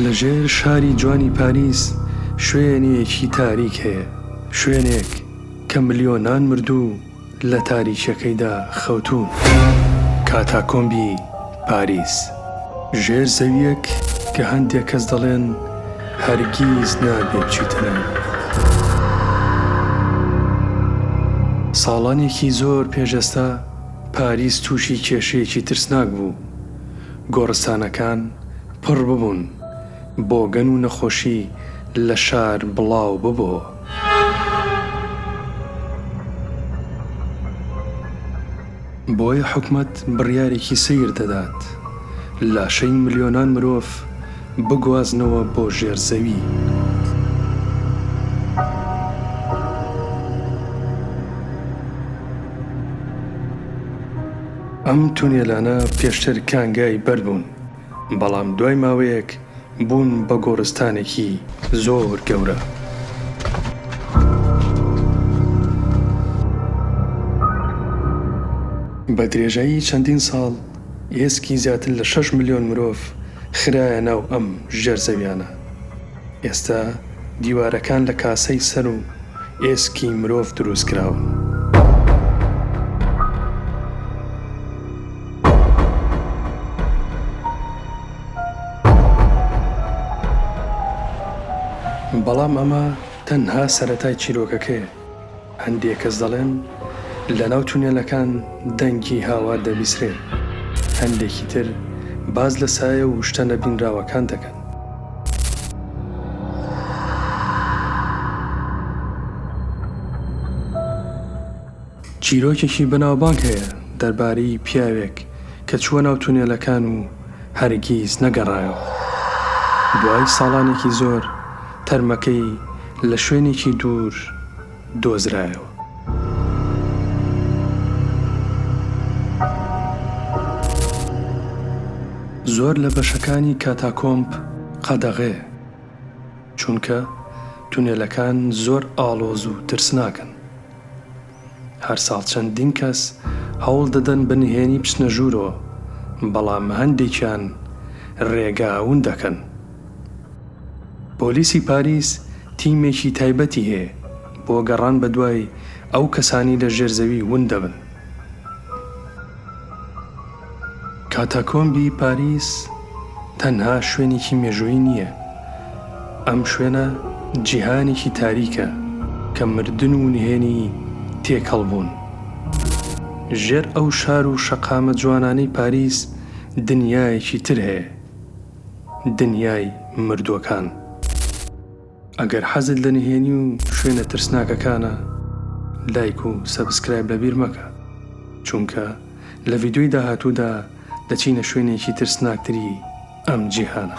لە ژێر شاری جوانی پاریس شوێنێکی تاریک هەیە، شوێنێک کە ملیۆنان مردوو لە تاریکییەکەیدا خەوتوون، کاتاکۆمبی پاریس. ژێرزەوییەک کە هەندێک کەس دەڵێن هەرگیز نابێ بچیتە لای. ساڵانێکی زۆر پێش ئێستا پاریس تووشی کێشەیەکی ترسناک بوو، گۆڕستانەکان پڕ ببوون، بۆگەن و نەخۆشی لە شار بڵاو ببۆ. بۆیە حکومەت بڕیارێکی سەیر دەدات لاشەی ملیۆنان مرۆڤ بگوازنەوە بۆ ژێر زەوی. ئەم تونێلانە پێشتر کانگای بەرد بوون. بەڵام دوای ماوەیەک بوون بە گۆڕستانێکی زۆر گەورە. بە درێژایی چەندین ساڵ ئێسکی زیاتر لە شەش ملیۆن مرۆڤ خرایە ناو ئەم ژێرزەویانە. ئێستا دیوارەکان لە کاسەی سەر و ئێسکی مرۆڤ دروست کراون. بەڵام ئەمە تەنها سەرەتای چیرۆکەکەیە. هەندێک کەس دەڵێن لەناو تونێلەکان دەنگی هاوار دەبیسرێت، هەندێکی تر باس لە سایە و شتە نەبینراوەکان دەکەن. چیرۆکێکی بەناوبانگ هەیە دەربارەی پیاوێک کە چووە ناو تونێلەکان و هەرگیز نەگەڕایەوە. دوای ساڵانێکی زۆر، تەرمەکەی لە شوێنێکی دوور دۆزرایەوە. زۆر لە بەشەکانی کاتاکۆمب قەدەغەیە، چونکە تونێلەکان زۆر ئاڵۆز و ترسناکن. هەر ساڵ چەندین کەس هەوڵ دەدەن بە نهێنی بچنە ژوورەوە، بەڵام هەندێکیان رێگا ون دەکەن. پۆلیسی پاریس تیمێکی تایبەتی هەیە بۆ گەڕان بەدوای ئەو کەسانەی لە ژێر زەوی ون دەبن. کاتاکۆمبی پاریس تەنها شوێنێکی مێژوویی نییە، ئەم شوێنە جیهانێکی تاریکە کە مردن و نهێنی تێکەڵ بوون. ژێر ئەو شار و شەقامە جوانانەی پاریس دنیایەکی تر هەیە، دنیای مردووەکان. ئەگەر حەزت لە نهێنی و شوێنە ترسناکەکانە لایک و سەبسکرایب لەبیر مەکە چونکە لە ڤیدیۆی داهاتوودا دەچینە شوێنێکی ترسناکتری ئەم جیهانە.